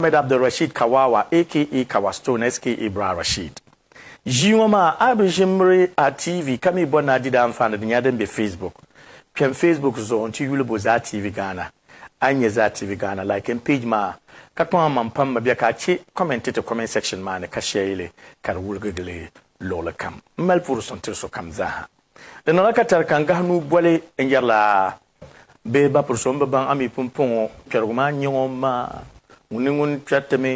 Ahmed Abdulrasheed Kawawa aka Kawa Stone SKA Bra Rasheed. Ʒii ŋɔ maa a bi ʒi miri a TV ka mi bɔri ni a di di anfaani di nyɛla din be Facebook. Kpɛm Facebook zuɣu n-ti yuli bo Zaa TV Ghana. A yi nya Zaa TV Ghana, like n page maa ka kpaŋ a maŋ pam mi bɛ ka a che comment n-ti ti comment section maa ni ka share li ka di wuligi gili luɣili kam. M mali puhiri suŋ tiri sokam zaa ha. Di niŋla ka tari ka n gahi nuu boli n yɛrila. Bee ba puri so m-bi baŋ a mi pumpɔŋɔ kpɛrigu maa n-nyɛ ŋɔ m-maa? Ŋuni ni ŋun kpɛri ti mi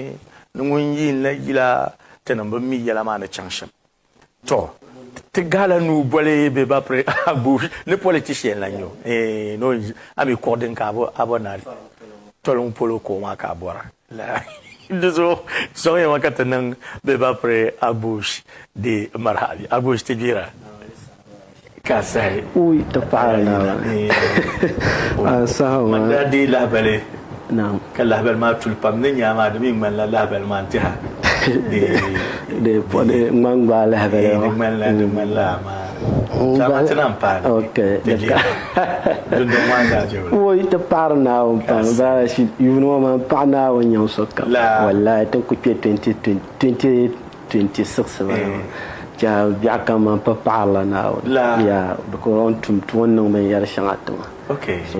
ni ŋun yiin la yila ti ni bi mi yɛla maa ni chaŋ shɛm? Tɔ! Ti ga la nuu boli bee ba puri a guui ni politishi yɛn lan nyo eeh ni o yi a mi kuɣu din ka a bo a bo na di? Toli ŋun polo kuɣu maa ka a bɔra? Di zuɣu sɔŋ ya ma ka ti niŋ bɛ ba piri Agbush di maraha bɛ Agbush ti gbira ka sahi o yi ti paɣiri Naawuni an saha maa. Man daa deei lahibali ka lahibali maa tuli pam ni nyaa maa di mi ŋmanila lahibali maa n-tiha di. Di ŋmanila di ŋmanila amaa. yi ti paɣiri naawuni pam bala shi yuuni ŋɔ man paɣi naawuni nyɛm sokam wallahi ti ku kpe 2026 bala maa ka biɛɣu kam man pa paɣirila naawuni yaa bicos o ni tum tuma o ni niŋ binyɛri shɛŋa tima so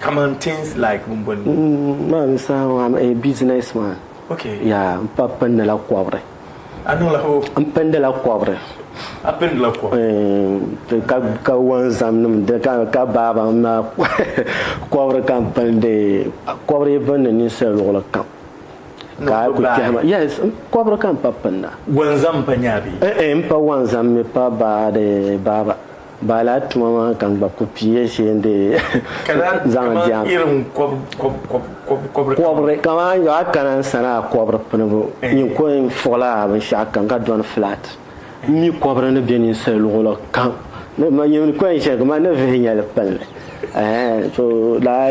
Kaman things like bin boli ni. N ma n saha ŋɔ am a business man. Ok. Yaa n pa pindi la kɔbiri. A niŋla ho? N pindi la kɔbiri. A pindi la kɔbiri? Eem ka ka wonzam nim di ka ka baaba n ma kɔbiri ka n pindi kɔbiri even ni ninsali luɣuli kam ka a ku kpɛhi ma yes kɔbiri ka n pa pinda. Wonzam n pa nyaa bee? Eem n pa wonzam mi pa baadi baaba. Baa laa tuma maa ka n gba ku pii ya shee n-dii zaŋ jɛm. Kɔbiri kamani yo a kana n-sana a kɔbiri pinibu nyin ko n fuɣila a binshɛɣu kam ka dɔni flat. M mi kɔbiri ni be ninsal luɣili kam. Nyin ko n shɛli kamani ni vihi nya li kpalli. Ɛɛn! To daa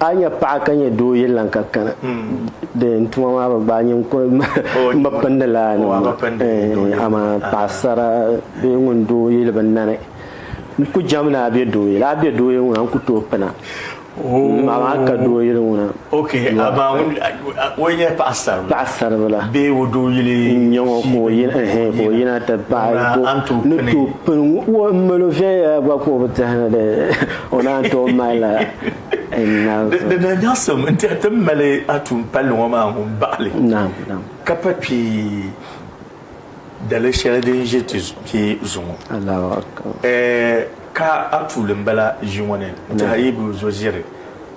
A yi nyɛ paɣa ka nyɛ doo yili lan ka kana di n tuma maa bi gbaai nyini n kuri n bi pindi laa nima maa amaa paɣasara bee ŋun doo yili bi nani n ku jɛm ni a be doo yili a be doo yili ŋuna n ku tooi pina amaa ka doo yili ŋuna paɣasaribila n nyɛ ŋɔ ka o yina ti paɣa ni tooi pini ŋɔ n mali o viɛnyɛla gba ka o bi tɛhina dee o naan tooi malila Di daa nyaɣisim n tiɛhi ti ni mali a tuun palli ŋɔ maa ŋun baɣi li ka pa kpe dali shɛli din ʒe ti kpe zuŋɔ. Ka a tuuli m-bala ʒi ŋɔ ni n-tiɛhi a yibu zo ʒiri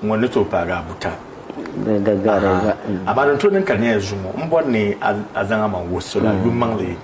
ŋɔ ni tooi paagi a buta. Amaa din tooi niŋ ka di nyɛla zuŋɔ m bɔri ni a zaŋ a maŋ wuhi salo a yumaŋli.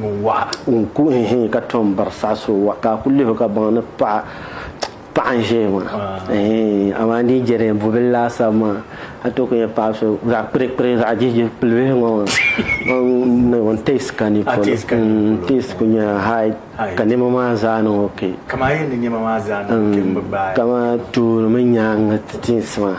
ŋun waɣa. Ŋun ku n hee ka tom biri saha so wa ka a ku lihi o ka baŋ ni paɣa paɣa n ʒɛya maa hee amaa n dii jɛri bubil laasabu maa a tooi ku nyɛ paɣa so zaɣ kpirikpiri zaɣ jihi pilibihi ŋɔ maa o ni teesi ka ni polo n teesi ku nyɛla hai ka niɛma maa zaa niŋ okee kaman tuuli mini nyaangi ti teesi maa.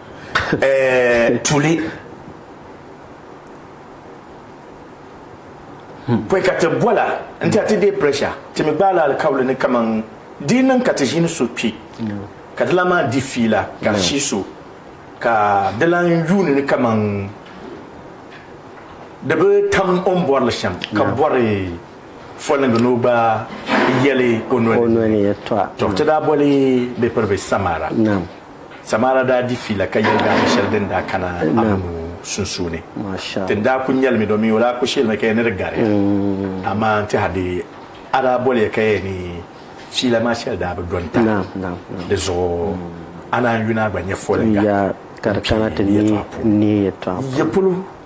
Tuli hmm. pɔi ka ti bɔla n ti a ti deei pressure ti mi gbaala alikauli ni kaman di niŋ ka ti ʒini so kpi hmm. ka di la maa di fiila ka hmm. shi so ka di lan yuuni ni kaman di bi tam o ni bɔrili shɛm ka bɔri fɔliŋgi ni o gba yɛli o noli to ti daa bɔli bɛ piri bɛ samara Samaara daa di fiila ka yɛligaana shɛli din daa kana Amonu sunsuuni. Ti ni daa kuli nyɛlimi domin o daa kuli sheelimi ka ya ni di gari ya. Amaa n-tɛhindi a daa boli ya ka ya ni fiila maa shɛli daa bi dɔnta. Di zuɣu a naan yuna a gba nyɛ foliŋga m-kpi n ni yɛtɔɣa polo.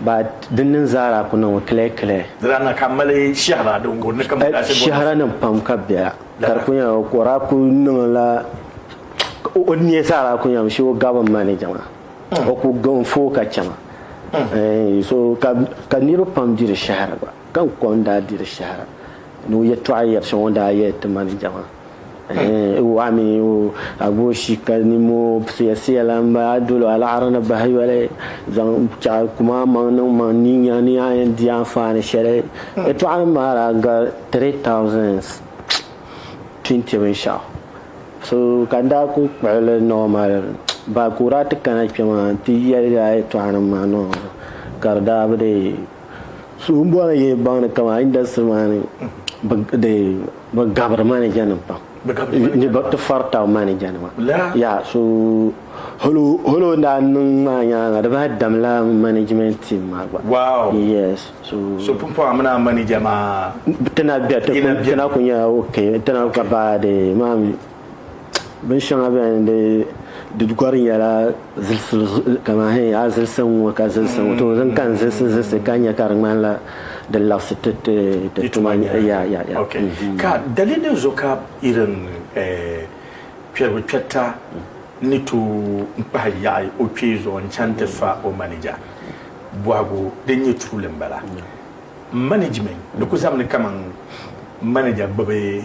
Ba din niŋ Zahra ku niŋmi kile kile. Di daa niŋ ka m mali shɛhira din guri ni ka m daa shɛbo. Shɛhiranim pam ka bɛ a, ka di ku nyɛla o ku daa ku niŋla o nia Zahra ku nyɛla she o gabim ma ni jɛma. O ku gabim foo ka chɛma. Eeh so ka ka niriba pam diri shɛhira gba ka n kom daa diri shɛhira. Ni o yɛtɔɣa yɛri shɛŋa o daa yɛli ti ma ni jɛma, Ɛɛh, o waɣa mi o agooshi ka nim o siya siya la n ba a dol o alaɣiri ni bahi yoli zaŋ chaɣ kum a maŋ niŋ maŋ ni nya ni a yɛn di anfaani shɛli. Yɛtɔɣanim maa daa gari three thousands twenty binshɛɣu so ka n daa kul kpuɣi li normal baa ka o daa ti kana kpɛmaa n ti yɛli a yɛtɔɣanim maa normal ka di daa bi dii So n bɔri yi baŋ ni kama industry maa ni bi gabiri manager nim pam ni bi ti fari tabi manager nima ya so holo holo daa niŋ maa nyaanga di daa dam la management team maa gba wow yes so so pumpɔŋ a mini manager maa tina bɛ tina ku nyɛla ok tina ka ba de maa mi bin shɛŋa bɛni n di di gɔri nyɛla zilisili kamani hɛn a zilisi n ŋɔ ka zilisi ŋɔ to din ka n zilisi zilisi ka nyɛ ka di ŋmanila di labisi ti ti ti tuma ya ya ya mm-hmm. ka dalili zo ka irin eh, kpɛrigu kpɛrita ni to n kpahi yaɣi o kpee zuɣu n chaŋ ti fa o manija bɔhigu din nyɛ tuuli n bala management di ku zamini kaman manager gbubi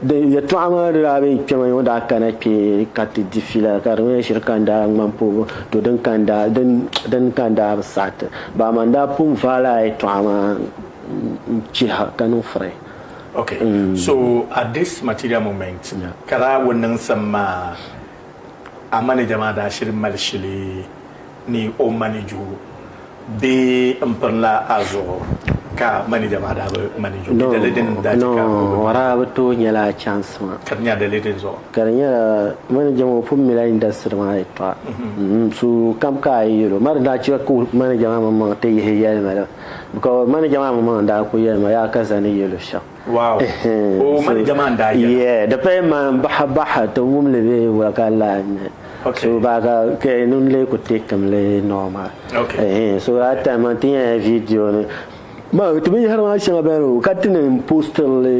Di yɛtɔɣa maa di daa be kpɛma ŋɔ daa kana kpe ka ti di fila ka di nyɛla shiri ka n daa ŋmani puhibu to din ka n daa din din ka n daa bi saɣi ti bahi maa n daa pun vaai laa yɛtɔɣa maa n chiha ka niŋ firi Okay so at this material moment ka laa wo niŋsim maa a manija maa daa shiri mali shili ni o manij o bee n pirila a zuɣu ka manija maa daa bi manij o bɛ dali din daa chɛ ka o bi manij o bi tooi nyɛla chance maa ka di nyɛla dali din zuɣu ka di nyɛla manija maa o pun mila industry maa yɛtɔɣa mm-hmm. so kam ka a yɛl o ma di daa chɛ ka manija maa mini maŋ ti yihi yɛlima la because manija maa mini maŋ daa ku yɛlima yaa ka zani yɛl o shɛm Wow oh mani jama n daa yɛla. Yeah di paya maa n bahi bahi ti wum li bee wula ka lahi nya so baa ka ka n nun lee ku take mi li normal eeh so that time maa n ti nyɛla video ni maa ti binyahiri maa shɛŋa beni o ka ti ni n postiri li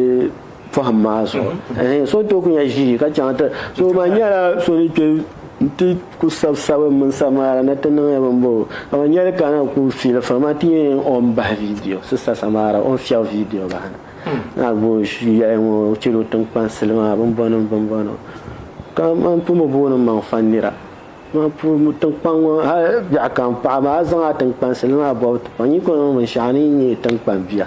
pɔhim maa zuɣu eeh so n tooi ku nya ʒii ka chaŋ ti so maa n nyɛla so ni kpe N ti ku sabi sabim mini Samaara na ti niŋ ya bimbɔbigu. Amaa nyɛli ka na ku fi li fam, a ti yɛn yɛn ɔn bahi vidiyo. Sista Samaara ɔn fiɛɣu vidiyo bahi na. Naa Bush yɛli ŋɔ o chɛla o tiŋkpansili maa bimbɔnim bimbɔnim. Ka man pun bi booni maŋ fan nira. Man pun tiŋkpan ŋɔ hali biɛɣu ka n paɣi maa a zaŋ a tiŋkpansili maa bɔbi ti paŋ. Nyin kɔŋ niŋ binshɛɣu ni yi nyɛ tiŋkpan bia.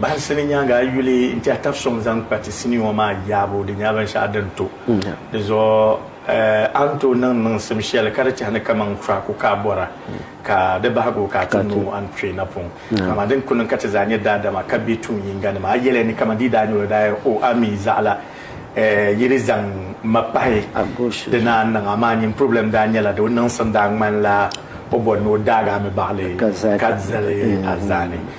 Bahinsi ni nyaaŋa a yuli n-tɛhi tab sɔŋ zaŋ kpa ti sinii ŋɔ maa yaabu, di nyɛla binshɛɣu din to. Di zuɣu a ni tooi niŋ niŋsim shɛli ka di tɛhi ni kaman kura ku ka a bɔra ka di bahigi o ka a ti nooi a ni kpe na pɔŋ. Amaa din ku niŋ ka ti zaa nyɛ daadama ka be tuun yiŋganima, a yɛliya ni kaman di yi daa nyɛ o daa yɛli, O, a mi zaɣ la, yi di zaŋ ma pahi. Di naan niŋ, amaa nyin purɔblɛm daa nyɛla di o niŋsim daa ŋmanila o bɔri ni o daag a mi baɣili ka zali a zaani.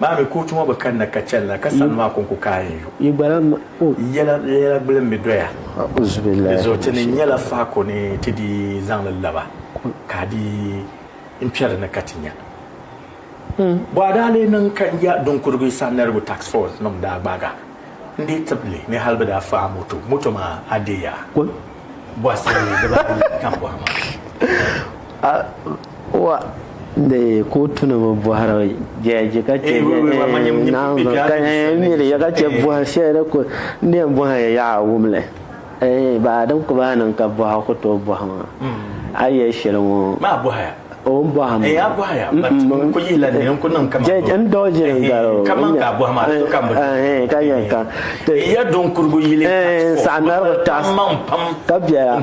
Maa mi kootu ŋɔ bi kanna ka chɛli la ka sani maa ko n-ku kaai n-yu yɛla gbuli m-bi doya. Di zuɣu ti ni nyɛla faako ni ti dii zaŋ li laba ka a dii n-kpɛri ni ka ti nya. Bɔ a daa lee niŋ ka ya Dunkurugu Sanɛrigu Tax Force nim daa gbaag a n-dii tib li ni hali bɛ daa fa a moto. Moto maa a deei a bɔhisi dibaayi tam bɔhima. Wa de kootuni bi bɔhiri jɛji ka chɛ naanzu ka miri ya ka chɛ bɔhi shɛli di ku n yɛn bɔhi ya yaɣa wum li baa din ku bahi niŋ ka bɔhi ku tooi bɔhi maa a yɛli shɛli ŋɔ o ni bɔhi maa jɛji n dɔɣi ʒili n gari o ka yɛn ka ti n saɣi narigu taɣisi ka bɛla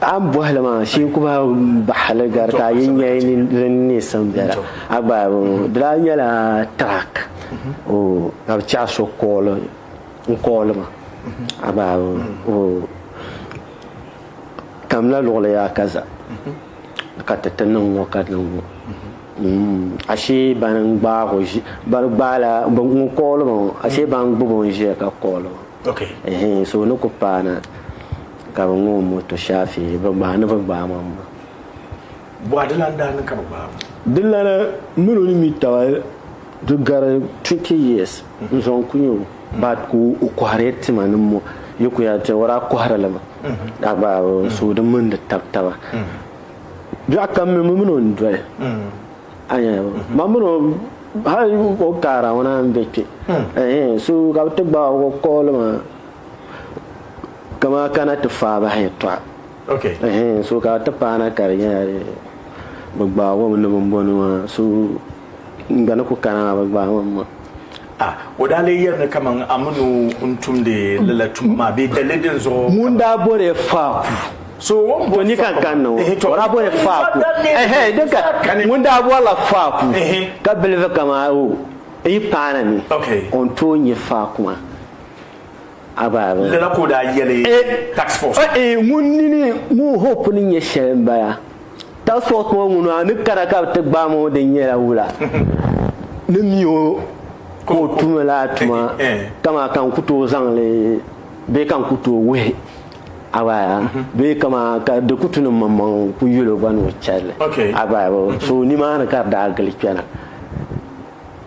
A ni bɔhi li maa, shee ku maa bahi li gari ka a yi nya yi nini di ni neei siŋ biɛla. A gba di daa nyɛla track ka bi chɛ a so kooli n kooli ma a gba o kamila luɣili yaa ka za ka ti ti niŋ ŋɔ ka niŋ ŋɔ ashee bani n gbaag o ʒi bani gbaala ŋun kooli ma ŋɔ ashee bani gbubi o n ʒiya ka kooli ma so ni ku paana. Ka bɛ ŋɔ o moto Shafii bɛ gbaai ni bɛ gbaai ma m-ma. Bɔha di lan daa niŋ ka bɛ gbaai ma. Dinlana min o ni mi taba di gari twenty years n-zaŋ ku nya o ba ka o kɔhiriya tima ni mo yi ku yɛn ti o daa kɔhiri li mi daa gbaai o so di mini di tab taba biɛɣu kam mi mi min o n-doli a nya ma min o hali o kaara ŋuna m-be kpe ehe so ka bɛ ti gbaai o ka o kɔhi li maa. kamaa kana ti faai bahi yɛltɔɣa okay ɛhɛn so ka ti paana ka di nyɛla bi gbaai wɔm ni bin bɔni maa so n gba ni ku kana maa bi gbaai wɔm maa Ah, o daa lee yɛri ni kaman a mini o n-tumdi lala tuma maa bee dalili din zuɣu ŋun daa bɔri faaku so wɔn to ni ka n kan ni ŋɔ o daa bɔri faaku ɛhɛn di ka ŋun daa bɔrila faaku ka bilivi kaman o n yi paana ni okay o ni tooi nyɛ faaku maa Abaaba. Lala ka o daa yɛli task force ŋɔ. Eeh ŋun nini ŋun hope ni nyɛ shɛli n bala. Task force ŋɔ ŋun a ni kana ka bɛ ti gbaai ma ŋɔ di nyɛla wula ni mi o ka o tumi lala tuma kamaa ka n ku tooi zaŋli bee ka n ku tooi wuhi Abaaba bee kamaa ka di ku tu ni mmaŋmaŋ n ku yɛl o gba ni o chɛli li Abaaba. So nimaani ka di daa gili kpɛna.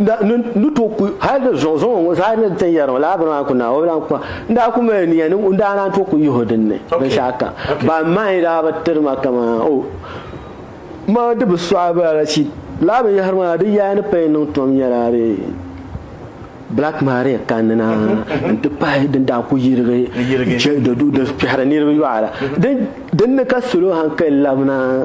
da ni ni to ku hali di zuɣu zuɣu ŋɔ zaa ni ti yɛri laa bini maa ku na o bi lahi kpa n daa ku mali niya ni n daa naan to ku yihi din ni binshɛɣu kam ban mahi daa bi tiri ma kaman o ma di bi sɔɣi bala la chi laa binyɛhiri maa di yaa ni pɛn niŋ tom nyɛla di black maria kanina mhm. n ti pahi din daa ku yirigi di kpɛhiri niriba yɔɣara mhm. din ni ka salo hankali labina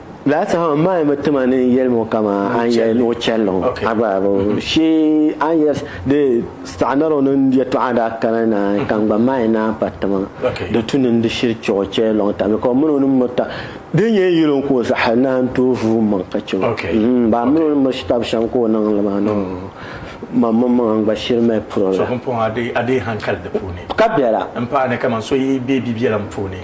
Laasaho n maai mi tima ni yɛlim o kama an yɛli ni o chɛlli ŋɔ a gba shee an yɛli di saɣanaro ni yɛtɔɣa daa kana na ka n gba maai naan pa tima di tu ni n di shiri chɛ o chɛli lɔŋ tam ka o mini o ni miri ta di nyɛ yili n ka o zaɣa naan tooi vuui maŋ ka chɛ o ba mini o ni miri shitab shɛm ka o niŋ li maa niŋ ma mini maŋa n gba shiri mali puri la ka bɛla n paani kaman so yi bɛ bibiɛlim puuni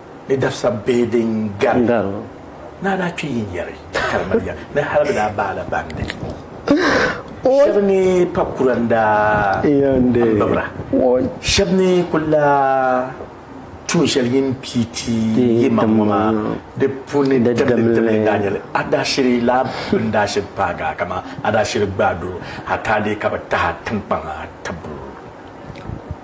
ni dabisa bee din gari o, ni a daa kpe yinyari ka di mali ya ni hal bɛ daa baala bandi shɛba ni pa kura n-daa bibira shɛba ni kul daa tuun shɛli yin pii ti yi maŋ ŋɔ maa di puuni dimdidimli n-daa nyɛ li. A daa shiri la bɛ ni daa shiri paag a kaman a daa shiri gbaai doo hataa dee ka bɛ tahi a tiŋkpaŋ a tibbu.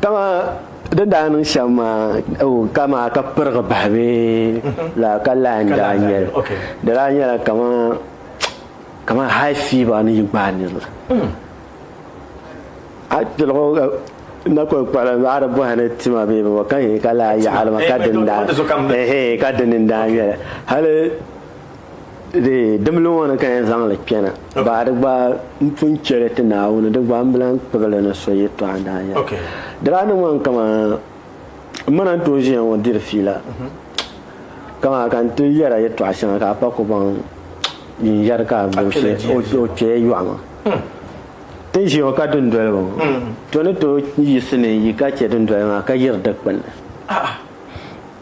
Dama din daa niŋ shɛm maa ka maa ka pirigi bahi bee laa ka laa n daa nyɛli di daa nyɛla kamani high fever ni yi gbaai niriba hmm. a tiligu na kuli kpala a di bɔhi ni tima bee bɛ ka yini ka laa yaɣali ma ka dini daa ka dini n daa nyɛli hali Dimli ŋɔ ni ka yɛn zaŋ li kpɛna baa di gba n pun chɛli ti Naawuni di gba n bi lan kpibili ni so yɛtɔɣa n-daa nyɛli di daa niŋ ma n kama m ma na n-tooi ʒiya ŋɔ diri fiila mhm. kama ka n ti yɛra yɛtɔɣa shɛŋa ka a pa ku baŋ yin yɛri ka a gbubi shee o kpɛya yɔɣu ŋɔ hmm. ti ʒi ŋɔ ka dundoli ŋɔ hmm. to ni tooi yiɣisi ni yi ka chɛ dundoli maa ka yiri dikpuni ah, ah.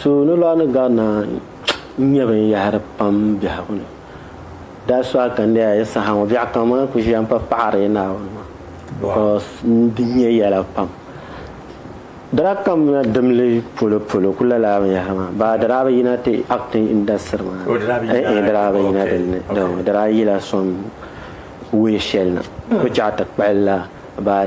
So ni lɔɣu ni garina n-nyɛ binyɛhiri pam biɛhigu ni. That's why ka n leei a yi saha ŋɔ biɛɣu kam a ni kuli ʒiya m-pa paɣiri yi Naawuni maa because n-di nya yɛla pam. Dara kamina dimli polo polo kuli lala a binyɛhiri maa baa dara a bi yina ti acting industry maa ni. Eeh dara a bi yina din ni dama dara a yila sɔŋ way shɛli na. Bi chaɣi ti kpahili la baa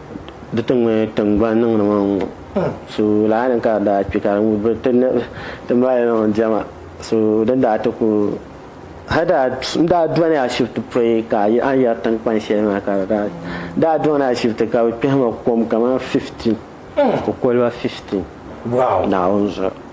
Di ti ŋme tiŋgbani niŋdi ma ŋ-ŋɔ so lala ni ka di daa kpe ka di bi ti niŋ ti mali niŋ diɛma so din daa ti ku hali daa m daa dɔni ashibiti pɔi ka a yi yɛri tiŋkpan shɛli maa ka di daa n daa dɔni ashibiti ka bɛ kpɛhi ma kom kamani fiftin ko koliba fiftin Naawuni zuɣu.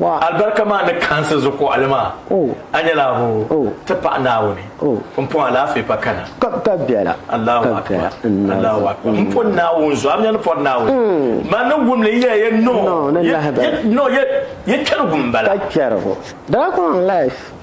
Alibarika maa ni kaansi zukuɣili maa, a nyɛla abu ti paɣa Naawuni. M pɔŋ alaafee pa kana. Allahu Akbar, Allahu Akbar. M pɔŋ Naawuni zuɣu, a mi a ni pɔri Naawuni, maa niŋ wumli n yɛli ya nɔɔ, yɛ kpɛrigu m-bala.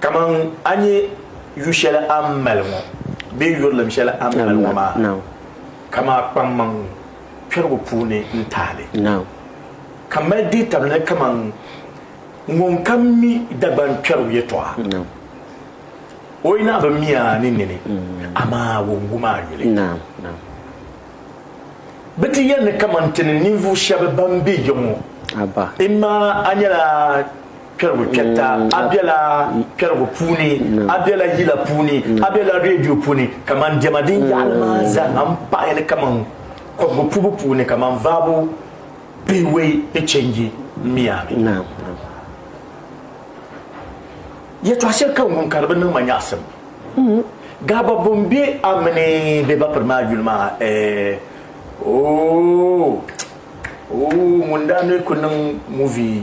Kaman a nya yu shɛli a ni mali ŋɔ bee yurilim shɛli a ni mali ŋɔ maa, ka maa kpaŋmaŋ kpɛrigu puuni n-taai li, ka mali deetabili ni kaman ŋun ka mi Dagbaŋ kpɛrigu yɛtɔɣa. O yi naɣ bi mi a ni nini, amaa o n-gum a yuli. Bɛ ti yɛli ni kaman ti ni ninvuɣ shɛb bɛn be ya ŋɔ, imaa a nyɛla Kpɛrigu kpɛrita, a bela kpɛrigu puuni, a bela yila puuni, a bela redio puuni, kaman diɛma din yaɣili maa zaa m-pahi li kaman kɔbigu puhibu puuni, kaman vaabu pihiwei ni change Miami. Yɛtɔɣ shɛli ka n wum ka di bi niŋ ma nyaɣisim. Gaaba bɔ m-be a mini bɛ bapiri maa yuli maa ɛɛh, ooh, ooh, ŋun daa ni ku niŋ movie.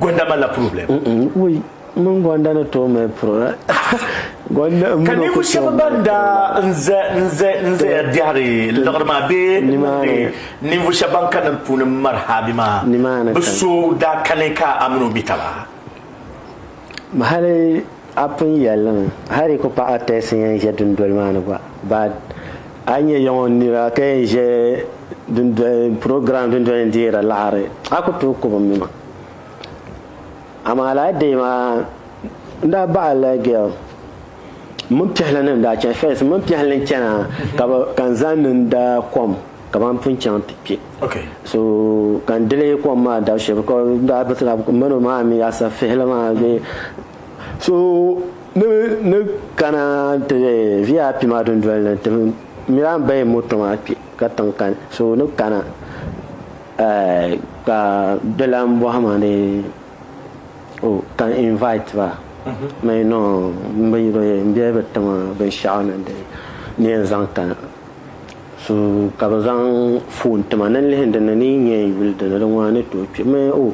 Gonda malila problem. Woi, mini Gonda ni tooi mali problem. Ka ninvuɣu shɛba ban daa n zaya biɛhiri liɣiri maa bee ninvuɣu shɛba ban kanna di puuni m-mari haabi maa, bɛ so daa kani ka a mini o mi taba. Hali a pun yɛli li mi, hal yi ku paɣi a tɛsi n-yɛn ʒe dundoli maa ni gba, but a yi nya yiŋɔ nira ka yɛn ʒe dundoli program dundoli ni deeri laɣiri a ku tooi kub mi ma. Amaa lala day maa n daa baɣi la girl m mini piɛhili ni n daa chani first m mini piɛhili n chana ka n zaŋ ni n da kom. ka ban pun chaŋ ti kpe so ka n dili kom maa dab shɛb n daa biritila mani o maa mi asa fihili maa bee so ni kana ti vip maa dundoli ni ti mi daa bahi moto maa kpe ka tiŋ kani so ni kana ka di lan bɔhi ma ni o ka n invite ba mi no n bi ti ma binshɛɣu ni di ni yɛn zaŋ kana So ka bɛ zaŋ foon ti ma ni n lihi n dini ni yi nya n yuli dini di ŋɔ a ni tooi kpe mi o.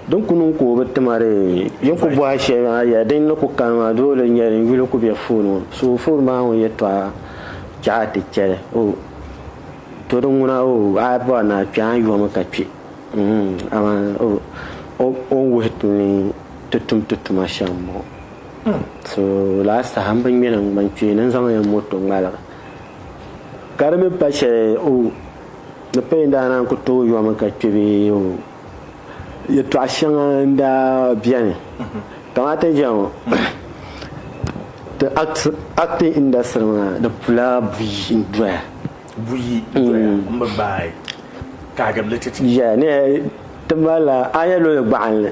Din ku niŋ ka o bi ti ma di yi ku bɔhi shɛli maa yaa din ni ku kani maa doli n nya din yuli ku be foon ŋɔ so foon maa ŋun yɛtɔɣa chɛ a ti chɛli o to din ŋuna o a yi bɔri ni a kpe a ni yɔmi ka kpe mm amaa o o o ni wuhi ti ni ti tum ti tuma shɛm m-bɔŋɔ so lala saha m bi ŋmɛ ni n gba n kpeeni n zaŋ ya moto ŋmaligi Ka di mi pa shɛli o ni paya daa naan ku tooi yɔmi ka kpe bɛ o yɛtɔɣ shɛŋa n-daa beni. Kamani ti ni chɛ ŋɔ, ti acting industry maa di pula buyi n-doya. Buyi n-doya m-bi gbaai kahigirili titi. Yeah, a yi yɛn luli gbaɣinli.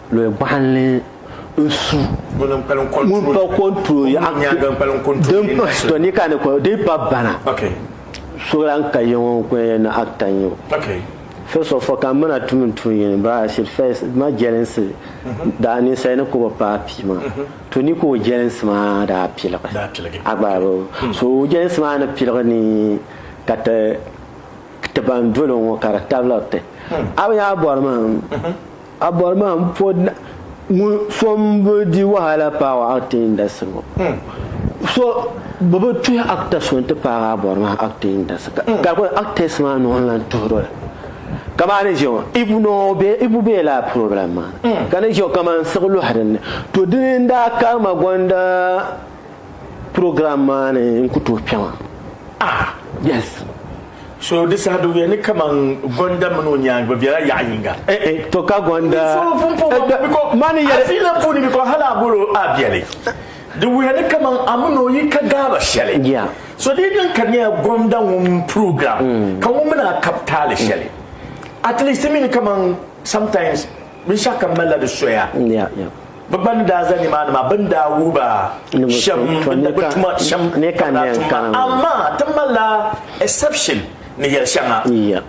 Lɔya gbɔɣinli n-su ŋun pa kɔntrol din pahi sitɔ ni ka ni kɔn din pa bana so lan ka yiŋɔ n-kɔn ya na actor n-nyɛ o. First of all ka mana tum n tuun yini ba I should first ma jɛlinsi daa ninsali ni ka o bi paai pii maa to ni ka o jɛlinsi maa daa piligi a gba bi so o jɛlinsi maa ni piligi ni ka ti ti ban doli o ŋɔ ka di tabili ti a bi nya bɔri maa. A bɔri maa n po ŋun so n bi di wahala paagi acting industry ŋɔ hmm. so bi bi tuhi actor so n ti paagi a bɔri maa acting industry ka hmm. kuli actors maa nuhi lan tuhiri ka maa ni ʒeŋɔ ibu no be ibu be la problem maa hmm. ka ni ʒeŋɔ ka man siɣi luhi dinni to dini n daa karima gonda Program maa ni n ku tooi kpɛma. Ah, yes. So di saha di wuya ni kaman Gonda mini o nyaangi bɛ bela yaɣa yinga. Eh, eh, to ka Gonda. So pun puhi ma eh, biko, ma ni yɛli. Afiila puuni biko hali a bolo a beli. Di wuya ni kaman a mini o yi ka gaaba shɛli. Yeah. So di niŋ ka di nyɛla Gonda ŋun program mm. ka ŋun mini a kab taali mm. shɛli. At least mi ni kaman sometimes binshɛɣu kam malila di soya. Yeah, yeah. Bɛ ban daa za nimaani maa, bɛ ni daa wuhi ba shɛm bɛ ni bi tuma shɛm ka bɛ daa tum maa. Amaa ti malila exception ni yɛli shɛŋa.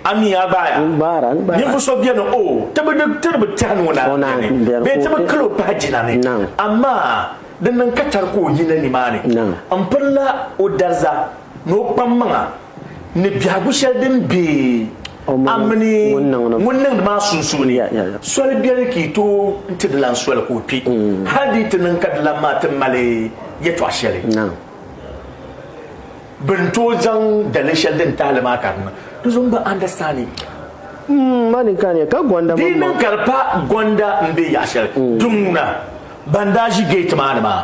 A mi a gbaaya. Ninvuɣ so beni, o ti bi di tiri bi tɛhini o naan biɛri ni, bee ti bi kil o pahi jina ni, amaa di niŋ ka tari ka o yi na nimaani m-pirila o dariza ni o kpammaŋa ni biɛhigu shɛli din be A mini ŋun niŋdi maa sunsuuni soli biɛni ka yi tooi ti dilan soli ka o kpi, hal di yi ti niŋ ka dilan maa ti mali yɛtɔɣ shɛli bɛ ni tooi zaŋ daliri shɛli din tahi li maa ka di niŋ. Di zuɣu m-bi understanding. Di yi niŋ ka di pa gɔnda m-be yaɣ shɛli, di ŋuna ban daa ʒi gate maa ni maa.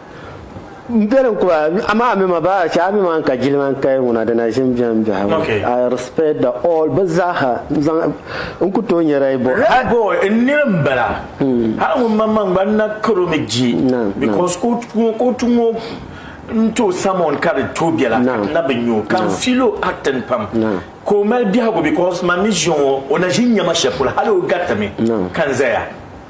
Bɛlim kuba, amaa mi ma baa chɛ a mi maa ka jilima n kaya ŋuna di na ʒim biɛm biɛha ŋɔ. Okay. I respect the all bɛ zaaha n zaŋ n ku tooi nyɛra yi bɔhi. Red boy n niri n bala. Hali ŋun man man gba n na karo mi di Naam, because ka o tu ŋɔ n tooi samon ka di tooi bela ka ti na bi nya o. Ka n feel o acting pam. Ka o mali biɛhigu because man mi ʒiya ŋɔ o na ʒi n nya ma shɛli polo hali o gariti mi ka n zaya.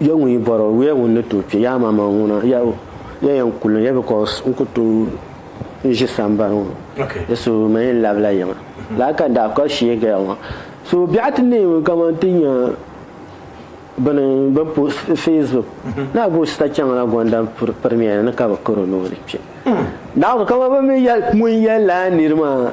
Ya ŋun yi bɔri o, wuya ŋun ni tooi kpe yaama maŋ ŋuna, ya o, ya yɛn kuli ni, ya because n ku tooi ʒi sambani ŋɔ, ya so ma yɛn labila yiŋa lala ka n daa kpa shee gaya ŋɔ. So biɛɣu ti neemi kaman ti nya bini bini po Facebook naa gba o sita chaŋ la Gonda pirimiya ni ka bɛ kar o ni o ni kpe. Naawuni kaman bɛ mi ŋun yɛli la niri maa.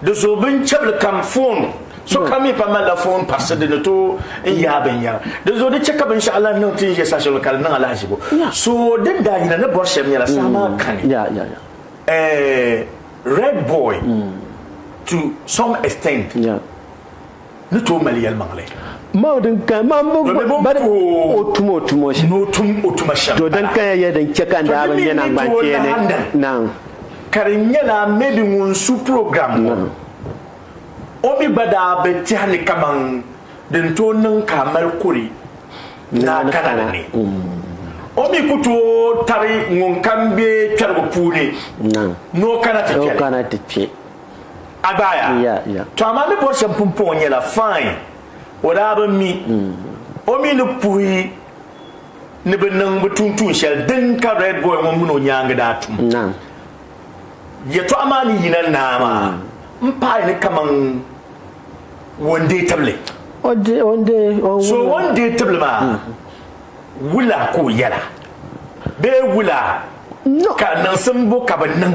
Di zuɣu bin chabili kam foon sokam mi pa malila foon parisi di ni tooi n yaai binyɛra di zuɣu di chɛ ka binshɛɣu lahi niŋ ti ni ʒe saha shɛli ka di niŋ alahizibo so din daa yina ni bɔri shɛm nyɛla saha maa kani eh, red boy mm. to some extent ni tooi mali yɛlimaŋli. Mao din kaya maa m-bo ba ni o tum o tumo shɛm. Ni o tum o tuma shɛm m-bala. To din kaya ya din chɛ ka n daa bi nya naŋgbankpeeni naŋ. Ka di nyɛla maybe ŋun su program ŋɔ o mi gba daa bi tɛhi ni kaman din tooi niŋ ka a mali kuri ni a kana ni ni. O mi ku tooi tabi ŋun kam be kpɛrigu puuni ni o kana ti kpɛli. a gbaaya. To amaa mi bɔri shɛba pumpɔŋɔ nyɛla fine, o daa bi mi o mi ni puhi ni bɛ niŋ bɛ tuun tuun shɛli din ka Red Boy ŋɔ mini o nyaaŋa daa tum yɛtɔɣa maa ni yina naa maa m paai ni kaman One Day tibili. So One Day tibili maa wula ka o yɛla bee wula ka niŋsim bo ka bɛ niŋ?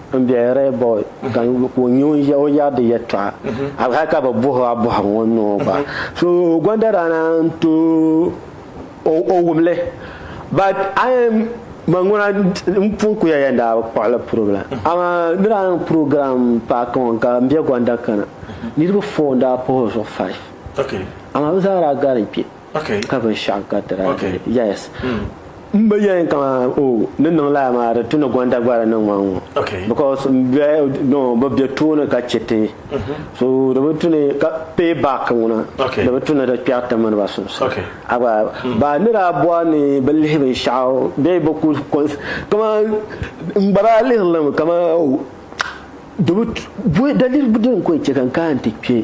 n biɛhi ree boy ka o nya o ʒiya o yɛri di yɛtɔɣa hali hali ka bi buhi a buhi ŋɔ ni o gba so gɔndadana n to o wumli but man ŋuna n pun kuya yɛn daa bi kpuɣili program amaa di daa niŋ program paaki ŋɔ ka n bɛ gɔnda kana niriba four n daa puhi o zuɣu five amaa bi zaa daa gari n kpe ka binshɛɣu garitira yes m ba yɛn ka o ni niŋ laa maa di tu ni gonda gbara niŋ ma ŋɔ because m bɛ no bi bɛ tooni ka chɛ ti so di bi tu ni ka pay back ŋuna di bi tu ni di kpɛri ti mini ba sunsuuni a gba ba ni daa bɔri ni bi lihi binshɛɣu bee bi ku kaman n gba daa lihiri li mi kaman di bi tu daliri din ko n chɛ ka n kana n ti kpɛ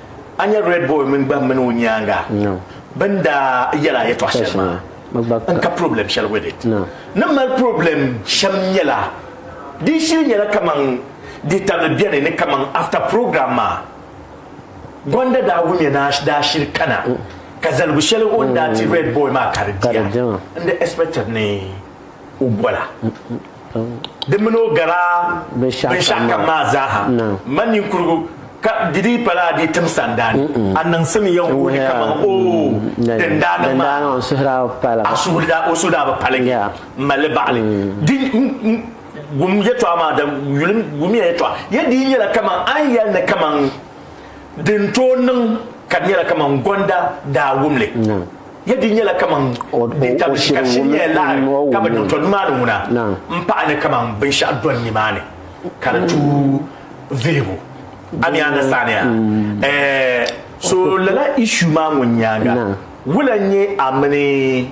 A nya Red Boy mini gbahi mini o nyaaŋa bɛ ni daa yɛl a yɛtɔɣ shɛli maa n-ka problem shɛli with it. Ni mali problem shɛm nyɛla din shili nyɛla kaman di tabili beni ni kaman after program maa Gonda daa wumya ni a daa shili kana ka zaligu shɛli o ni daa ti Red Boy maa ka di diya n-di expected ni o bɔla. Di mini o gala binshɛɣu kam maa zaaha, m ma ninkurigu, ka di dii pala a di tim sanda ni a niŋsim ya n wuhi kaman o din daa niŋ maa, a suhu daa o suhu daa bi paligi m ma li baɣili. Di wum yɛltɔɣa maa da yuli wum ya yɛltɔɣa, ya dii nyɛla kaman a ni yɛli ni kaman din tooi niŋ ka di nyɛla kaman gɔnda daa wum li. Ya di nyɛla kaman di tabishi ka di shiri nyɛla laɣiri ka bɛ niŋ to nimaani ŋuna m-paɣi ni kaman binshɛɣu dɔni nimaani ka di tu viligu. A mi understand ya? Eh, so lala issue maa ŋun nyaaŋa wula n-nyɛ a mini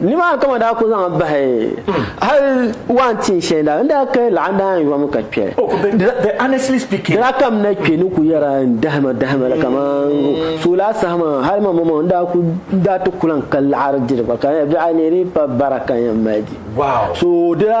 Nimaani ka ma daa ku zaŋ bahi hali waan tin shɛli daa n daa kahi laɣa daa yɔn mi ka kpɛri. Oh, but, but honestly speaking. Dina ka m na kpɛ ni ku yɛra n dahima dahima la kaman so laa saha maa hali ma mama n daa ku n daa ti ku lan ka laɣiri diri ba ka n yɛli biɛɣu neeri pa bara ka n yɛn mali di. Wow. So dila.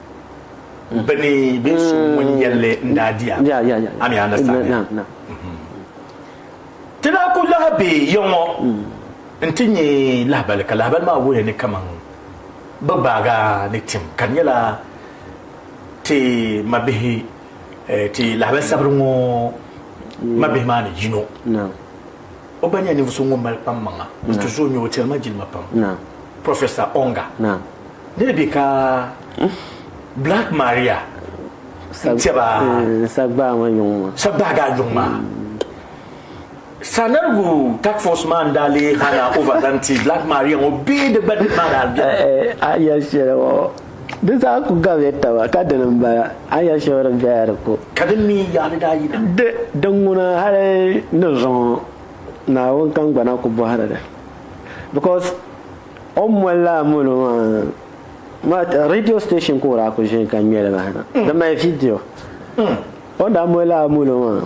bɛ ni be so ŋun yɛlli n daa diya a mi andastamia ti daa ku lahi be ya ŋɔ n ti nyɛ lahibali ka lahibali maa wuhiya ni kaman bɛ gbaaga ni tim ka di nyɛla ti mabihi ti lahibali sabiri ŋɔ mabihi maa ni yino O gba nyɛla ninvuɣu so ŋun mali kpam maŋa n ti zo nyɛ o tiri ma jilima pam Professor Onga ni di bɛ ka Black Maria n tɛba sagbaa ma yuŋ ma sagbaa daa yuŋ ma sanarigu task force maa n daa lee hana over zaŋ ti Black Maria ŋo bee di gba di maa daa bɛ a yɛli shɛli ŋo Di zaa ku gabiya taba, ka dini m-bala, a ya shɛba din bɛhi a di ku. Ka di mi ya ni daa yina. Di diŋuna hali ni zuŋɔ Naawuni kangbana ku bɔhiri di because o ni moli li a molo maa radio station ka o daa ku ʒini ka ŋme li bahi na di mali video o ni daa moli li a molo maa.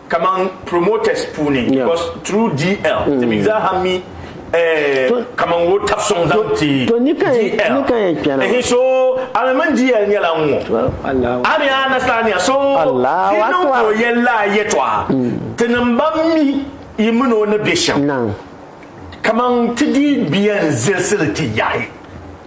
kaman promoters puuni because through DL ti mi zaaha mi eh, kaman wo tabi suŋ zaŋ ti DL ehi so ami mini DL nyɛla ŋ ŋɔ ami a nasara nia so di niŋ ka o yɛn laa yɛtɔɣa ti niŋ ba mi yi mini o ni be shɛm kaman ti dii biɛn zilisili ti yahi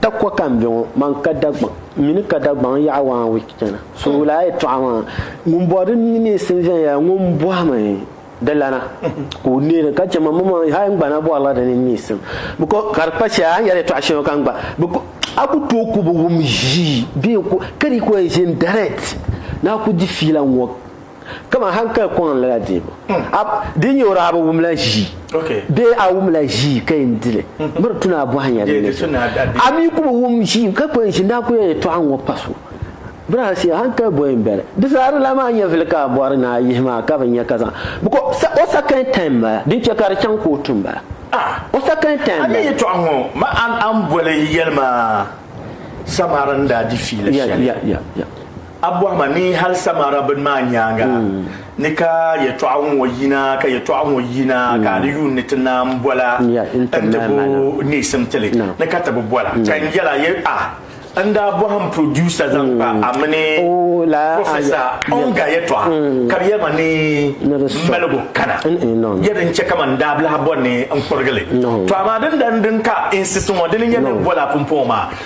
Takua ka n be ŋɔ, man ka Dagbaŋ, m mini ka Dagbaŋ yaɣi one week chana. So wula a yɛltɔɣa maa? Ŋun bɔri di mini neesim viɛnyɛla ŋun bɔhimi di lana ka o neei di ka chɛ man mmaŋ hal n gba na bɔrila di mini neesim because ka di kpa shɛli a ni yɛli yɛltɔɣa shɛli ŋɔ ka n gba because a ku tooi ku bi wum ʒii bee ka di ku yɛn ʒini direct ni a ku di fiila ŋɔ. Kaman hankali kɔŋ lala deebu. A di nyɛ o daa bi wumla ʒii bee a wumla ʒii ka yɛn di li? Bɛ di tu ni a bɔhi nya din nyɛ so. A mi ku bi wum ʒii ka kuli ʒi ni a ku yɛn yɛtɔɣa ŋɔ pa so. Braha Sia, hankali bɔyi m-bala. Di zaa di lan maa nyɛvili ka a bɔri ni a yihi ma ka bi nya ka zaŋ bikɔ o sakin taim m-bala. Din chɛ ka di chaŋ kootu m-bala. O sakin taim m-bala. A mi yɛtɔɣa ŋɔ ma a ni boli yɛli ma Samari ni daa di fiila shɛli. A bɔhi ma ni hal Samara bini maa nyaaŋa ni ka yɛtɔɣa ŋɔ yina, ka yɛtɔɣa ŋɔ yina ka a ni yuun ni ti naam bɔla n-ti bo neesim ti li ni ka ti bi bɔla. Ka n yɛl a, Yɛ a, n daa bɔhi m producer zaŋ kpa a mini Professor Onga yɛtɔɣa ka bɛ yɛli ma ni m maligu kana. Yɛ din chɛ kaman daabilahi bɔri ni n kurigi li. Tɔ amaa din dan din ka insist ŋɔ, dini n-nyɛ ni bɔla pumpɔŋɔ maa.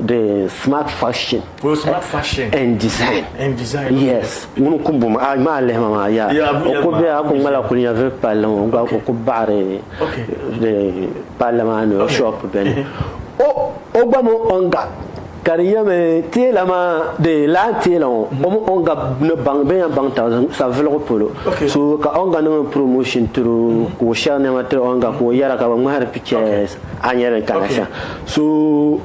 the smart fashion oh, smart fashion and design and design yes ŋun ku bum a maa lihima maa ya o ku bɛ a ku ŋmala kuli nya vili palli ŋɔ gba o ku baɣari palli maa ni o shop bɛni o o gba mi on gap ka di yɛmi teela maa de laa teela ŋɔ mm-hmm. o mi on gap ni baŋ bɛ yan baŋ ta saviligu polo so ka on ga niŋ promotion tiri mm-hmm. ka o shɛri nɛma tiri on gap ka o yɛra ka bi ŋmahari pictures A nyɛ din kana shɛm. So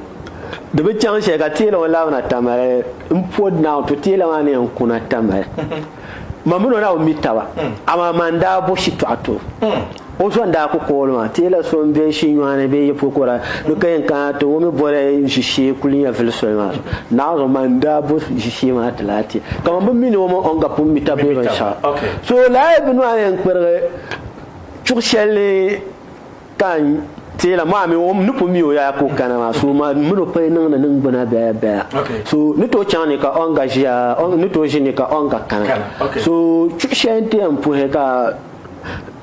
di bi chaŋ shɛli ka teela ŋɔ labi na tamali n po naaw to teela maa ni yɛn kuna tamali man mini o daa bi mi taba hmm. amaa man daa bo shitɔɣu to hmm. o so n daa ku kooli maa teela so n bɛ shinyɔɣani bee yɛpokora ni ka yɛn kana ti o mi boli ʒishee kuli nyɛ vili soli maa so naaw zuɣu man daa bo ʒishee maa ti laa teela ka man bi mini o man ɔn ka pun mi taba bee binshɛɣu so laa bi nɔɣani n kpirigi chuɣu shɛli Ka n teela maa mi o ni pun mi o yaya ka o kana maa, so maa mini o pay niŋdi ningbuna bɛya bɛya. So ni tooi chaŋ ni ka Onga ʒiya, ni tooi ʒi ni ka Onga kana. So chuɣu shɛli n ti yɛn puhi ka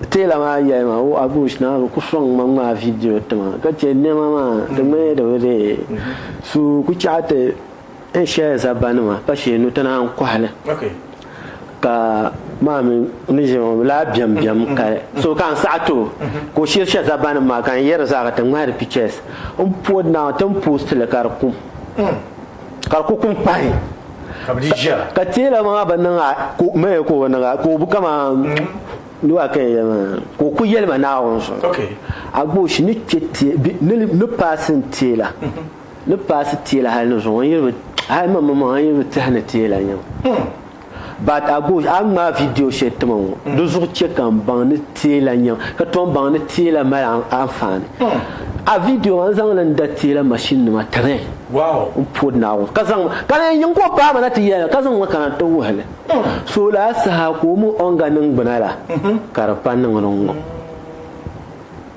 teela maa yɛli ma, o Agush naa bi ku sɔŋ ma ŋmaai vidio ti ma, ka chɛ nɛma maa di ŋmanila di bi dee. So ku chaɣi ti. N shɛya zabanima pa shee nuti na n-kɔhili ka maa mi ni ʒe ŋɔ laa biɛm biɛm ka so ka n saɣi ti o ka o shiri shɛ zabanima maa ka n yɛri zaa ka ti ŋmahi di pictures n pɔd na ti ni post li ka di kum ka di ku kum pahi ka teela maa bi niŋ maya ka o niŋa ka o bi kaman nua ka yɛli maa ka o ku yɛli ma Naawuni zuɣu a gbooshi ni kpe ni paasi n teela. ni paasi teela hali ni zuŋɔ a yiri bi hali man man man a yiri bi tehi ni teela nyam but a gosh a ŋmaa video shɛli tima ŋɔ di zuɣu chɛ ka n baŋ ni teela nyam ka tom baŋ ni teela mali anfaani a video maa n zaŋ li n da teela machine nima tiri n pɔri Naawuni ka zaŋ ka di yɛn niŋ ka o paai ma na ti yɛli ka zaŋ ma kana n ti wuhi li so laa saha ka o mi o ni ga niŋgbuna la ka di pa niŋ di ŋɔ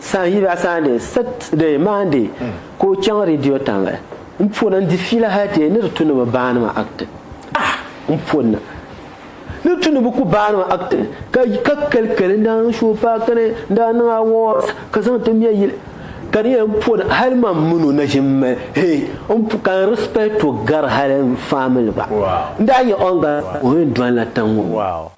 San yi ba Sunday, Saturday, Monday ka o chaŋ Radio Tanla n pona n di fiila hali ti yɛn ni di tu ni bi baani ma act. Ah! N ponna ni tu ni bi ku baani ma act ka ka kali kali n daa niŋ show park ni n daa niŋ awards ka zaŋ ti mɛ yili ka di yɛn pona hali man min o naʒimma hee n ka n respect o gari hali n family gba n daa nyɛ o n gari o yɛn doli na tiŋ ŋɔ.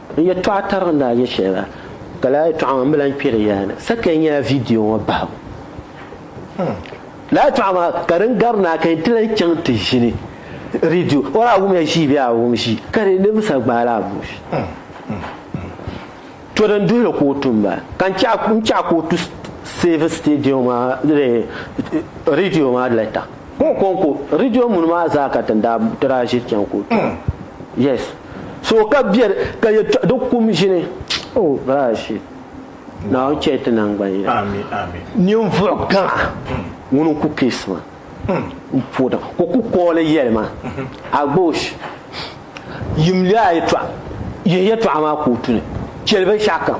N yɛtɔɣa tariga ni a yɛ shɛli la, ka lala yɛtɔɣa maa m bi lan kpɛri ya ni. Sakai nyɛla vidiyo ŋɔ bahigu. Lala yɛtɔɣa maa ka din gari ni a ka yɛn ti lan chaŋ ti ʒini redio. O daa wumya ʒii bee a wum ʒii, ka di niriba sa gbaai la abuush. To din duhi li ka o tu m-bala. Ka n chaɣi ka o tu Save Stadium maa, redio maa lɛta. Ko ko ko radio muni maa zaa ka tin daa ti daa ʒiri chaŋ kootu. Mm. Yes. So ka bɛ ka ye di kum ʒini. Oh, bra shit. Naawuni chɛ ti nangbani yina. Amin, amin. Ninvuɣu gaŋa ŋuni n-ku keesi maa m-po daŋ ka o ku kooli yɛli ma, Agbosh, yimli a yɛtɔɣa, yihi yɛtɔɣa maa kootu ni, chɛli binshɛɣukam.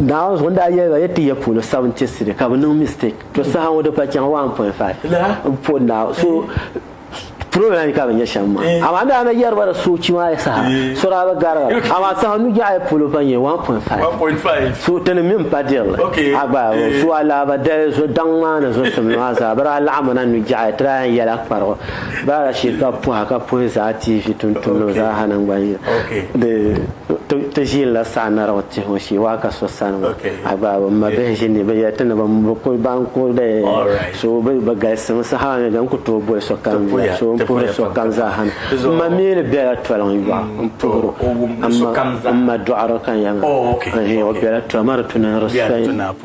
Daaŋɔ zuɣu n daa yɛli ba ya ti ya puuni sabi n ti siri ka bi niŋ mistake to saha ŋɔ di pa chaŋ 1.5 n pɔ Naawuni so program yi ka bi nyɛ shɛm maa amaa n daa na yɛri ba di soochi maa ya saha so daa bi gari ba amaa saha nu jɛɣu ya polo pa nyɛ 1.5 so ti ni mi n pa dirili a gba so a lahabali dali daŋ maa ni zusimli maa zaa bi daa laɣim mi na nu jɛɣu ya ti daa yan yɛla kparigu Baara shee ka bɛ pɔhi ka puhi zaa TV tumtumdiba zaa ha naŋgban'yila. Di ti ʒiinila Saɣinarigu tihibu shee waa ka so sani ŋɔ a gbaai ba. M ma bihi ʒi ni bɛ yɛli ti ni bɛ kuli baŋ ka o lee so bɛ galisimi saha ni di ni ku tooi boli sokam yila so m puhiri sokam zaa ha ni m ma mi ni bela toliŋ yɔɣu m puhiri o m ma dɔɣiri ka n yɛli ma n hii o bela toliŋ ma di tu ni n respect.